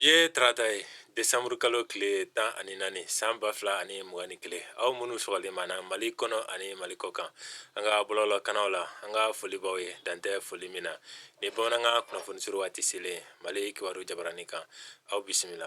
I ye tarata ye desanburu kalo tile tan ani naani san ba fila ani mugan ni kelen aw minnu sɔgɔlen b'an na mali kɔnɔ ani mali kɔ kan an ka bɔlɔlɔ kanaw la an ka foli b'aw ye dan tɛ foli min na ni bamanankan kunnafoni suru waati selen mali kibaru jabaranin kan aw bisimila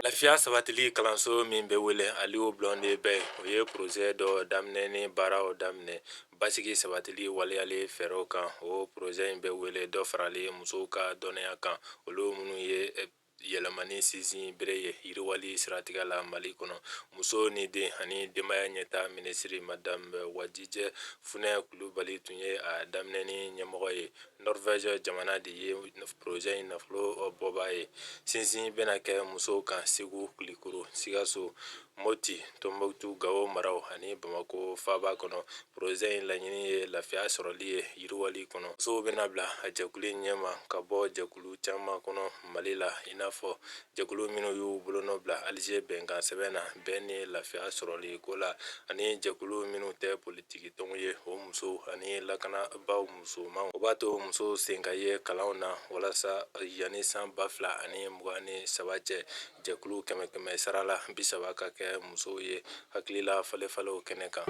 lafiya sabatili kalanso min bɛ wele aliyu blɔndɛn bɛyi o ye porozɛ dɔ daminɛni baaraw daminɛ Basigi sabatili waleyali fɛɛrɛw kan o porozɛ in bɛ wele dɔ farali musow ka dɔnniya kan olu minnu ye eh, yɛlɛmani sinsinbere ye yiriwali siratigɛ la mali kɔnɔ muso ni den ani denbaya ɲɛtaa minisiri madame eh, wajijɛ funɛ kulubali tun ye a daminɛni ɲɛmɔgɔ ye norvège jamana de ye porozɛ in nafolo eh, bɔbaa ye sinsin bɛna kɛ musow kan segu kulikoro sikaso moti tombouctou gawo maraw ani bamako faaba kɔnɔ porozɛ in laɲini ye lafiya sɔrɔli ye yiriwali kɔnɔ musow bɛna bila a jɛkulu ɲɛma ka bɔ jɛkulu caman kɔnɔ mali la i n'a fɔ jɛkulu minnu y'u bolonɔ bila alize bɛnkan sɛbɛn na bɛn ni lafiya sɔrɔli ko la ani jɛkulu minnu tɛ politiki tɔnw ye o musow ani lakanabaaw musomanw o b'a to musow sen ka ye kalanw na walasa yanni san ba fila ani mugan ni saba cɛ jɛkulu kɛmɛ kɛmɛ sarala bi saba ka kɛ musow ye hakilila falenfalenw kɛnɛ kan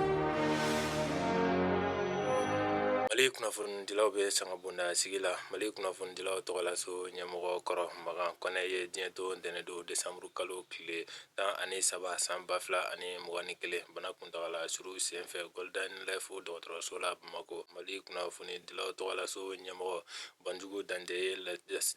mali kunnafonidilaw bɛ sanga bonda sigi la mali kunnafonidilaw tɔgɔlaso ɲɛmɔgɔ kɔrɔ makan kɔnɛ ye diɲɛ to ntɛnɛndon desanburu kalo tile tan ani saba san ba fila ani mugan ni kelen bana kuntagala suru senfɛ golden life dɔgɔtɔrɔso la bamakɔ mali kunnafonidilaw tɔgɔlaso ɲɛmɔgɔ Banjugu Dante ye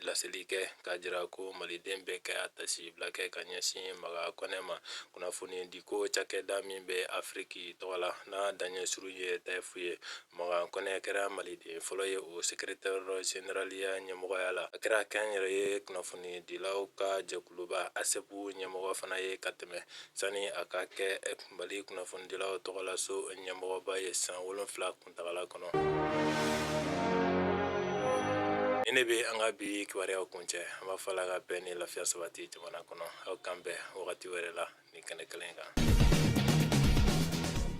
laseli kɛ k'a jira ko Maliden bɛɛ ka tasibila kɛ ka ɲɛsin Makan Kɔnɛ ma kunnafonidiko cakɛda min bɛ Afiriki tɔgɔ la n'a daɲɛ surun ye Tayifu ye. Makan Kɔnɛ kɛra Maliden fɔlɔ ye o sekretɛri zeneraliya ɲɛmɔgɔya la. A kɛra kɛnyɛrɛye kunnafonidilaw ka jɛkuluba ASEPU ɲɛmɔgɔ fana ye ka tɛmɛ sani a ka kɛ Mali kunnafonidilaw tɔgɔlaso ɲɛmɔgɔba ye san wolonwula kuntaala kɔnɔ. Nin de bɛ an ka bi kibaruyaw kuncɛ, an b'a fɔ Ala ka bɛn ni lafiya sabati jamana kɔnɔ. Aw k'an bɛn wagati wɛrɛ la nin kɛnɛ kelen kan.